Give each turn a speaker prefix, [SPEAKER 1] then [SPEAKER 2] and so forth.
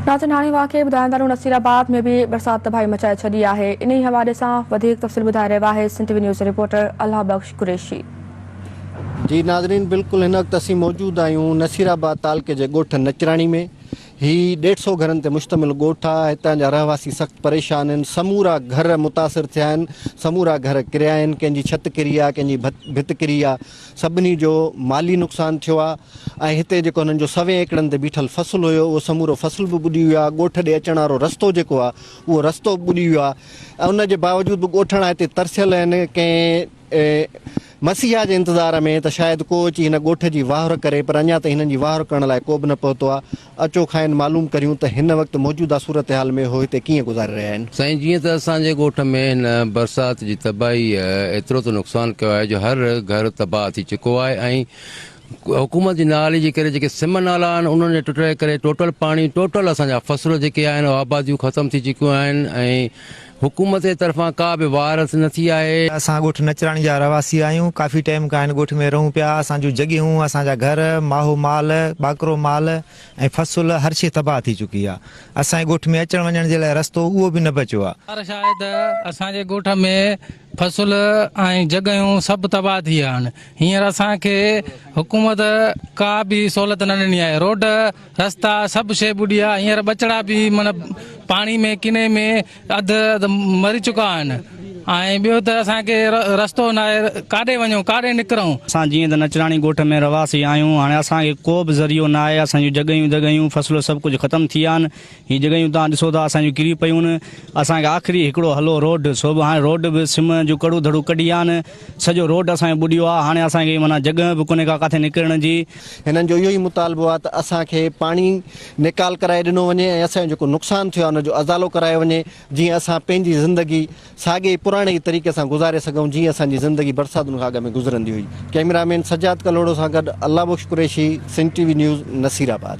[SPEAKER 1] ناظرين هاڻي اها خير ٻڌائڻ ٿا نصير آباد ۾ به برسات تباهي مچائي ڇڏي آهي انهي حوالي سان وڌيڪ تفصيل ٻڌائي رهيو آهي Sindh T V news reporter Allah Bakhsh Qureshi.
[SPEAKER 2] جي ناظرين بلڪل هن وقت اسين موجود آهيون نصير آباد تعلقي جي ڳوٺ نچراڻي ۾ هي ڏيڍ سئو گهرن تي مشتمل ڳوٺ آهي هتان جا رهواسي سخت پريشان آهن سمورا گهر متاثر ٿيا آهن سمورا گهر ڪريا آهن ڪنهن جي ڇت ڪري آهي ڪنهن جي ڀت ڪري آهي سڀني جو مالي نقصان ٿيو آهي ۽ هتي جيڪو هنن جو سوين ايڪڙن تي بيٺل فصل هيو اهو سمورو فصل به ٻڏي ويو آهي ڳوٺ ڏي اچڻ وارو رستو جيڪو آهي اهو رستو به ٻڏي ويو آهي ۽ ان جي باوجود به ڳوٺاڻا هتي ترسيل آهن ڪنهن مسيحا جي انتظار ۾ ته شايد ڪو اچي هن ڳوٺ جي واهر ڪري پر اڃا تائين هنن جي واهر ڪرڻ لاء ڪوبه نه پهتو آهي اچو کانئن معلوم ڪريون ته هن وقت موجوده صورتحال ۾ هو هتي ڪيئن گذاري رهيا آهن. سائين جيئن ته اسان جي
[SPEAKER 3] ڳوٺ ۾ هن برسات جي تباهيء ايترو ته نقصان ڪيو آهي جو هر گهر تباهه ٿي چڪو آهي ۽ حڪومت جي نااهلي جي ڪري جيڪي سم نالا آهن انهن جي ٽٽڻ جي ڪري ٽوٽل پاڻي ٽوٽل اسان جا فصل جيڪي آهن آباديون ختم ٿي چڪيون آهن ۽ حڪومت جي طرفان ڪا به واء رس نه ٿي آهي. اسان ڳوٺ نچراڻي جا
[SPEAKER 4] رهواسي آهيون، ڪافي ٽائيم کان هن ڳوٺ ۾ رهون پيا، اسان جون جڳهيون، اسان جا گهر، ماهو مال، ٻاڪرو مال ۽ فصل هر شيء تباهه ٿي چڪي آهي، اسان جي ڳوٺ ۾ اچڻ وڃڻ جي لاء رستو اهو به نه بچيو آهي. گذارش آهي ته اسان
[SPEAKER 5] جي ڳوٺ ۾ فصل ۽ جڳهيون سڀ تباهه ٿي آهن، هينئر اسان کي حڪومت ڪا به سهولت نه ڏني آهي، روڊ. رستا سڀ شي ٻڏي ويا هينئر ٻچڙا به من پاڻي ۾ ڪني ۾ اڌ اڌ مري چڪا آهن ۽ ٻيو ته اسان کي رستو نه آهي ڪاڏي وڃون ڪاڏي نڪرون. اسان جيئن ته نچراڻي
[SPEAKER 6] ڳوٺ ۾ رهواسي آهيون هاڻي اسان کي ڪو به ذريعو نه آهي اسان جون جڳهيون دڳهيون فصلون سڀ ڪجهه ختم ٿي ويا آهن هي جڳهيون توهان ڏسو ٿا اسان جون ڪري پيون. اسان کي آخري هڪڙو هلو روڊ سو به هاڻي روڊ به سم جون ڪڙون ڌڙون ڪڍي آن سڄو روڊ اسان جو ٻڏيو آ هاڻي اسان کي معنيٰ جڳهه به ڪونهي ڪا ڪاٿي نڪرڻ جي. هنن جو اهو ئي
[SPEAKER 2] مطالبو آ ته اسان کي پاڻي نيڪال ڪرائي ڏنو وڃي ۽ اسان جو جيڪو نقصان ٿيو آ ان جو ازالو ڪرايو وڃي جيئن اسان پنهنجي زندگي ساڳي ئي پراڻي ئي طريقي سان گذاري سگهون جيئن اسان جي زندگي برساتن کان اڳ ۾ گذرندي هئي. ڪئميرا مين سجاد ڪلهوڙو سان گڏ Allah Bakhsh Qureshi Sindh T V news Naseer آباد.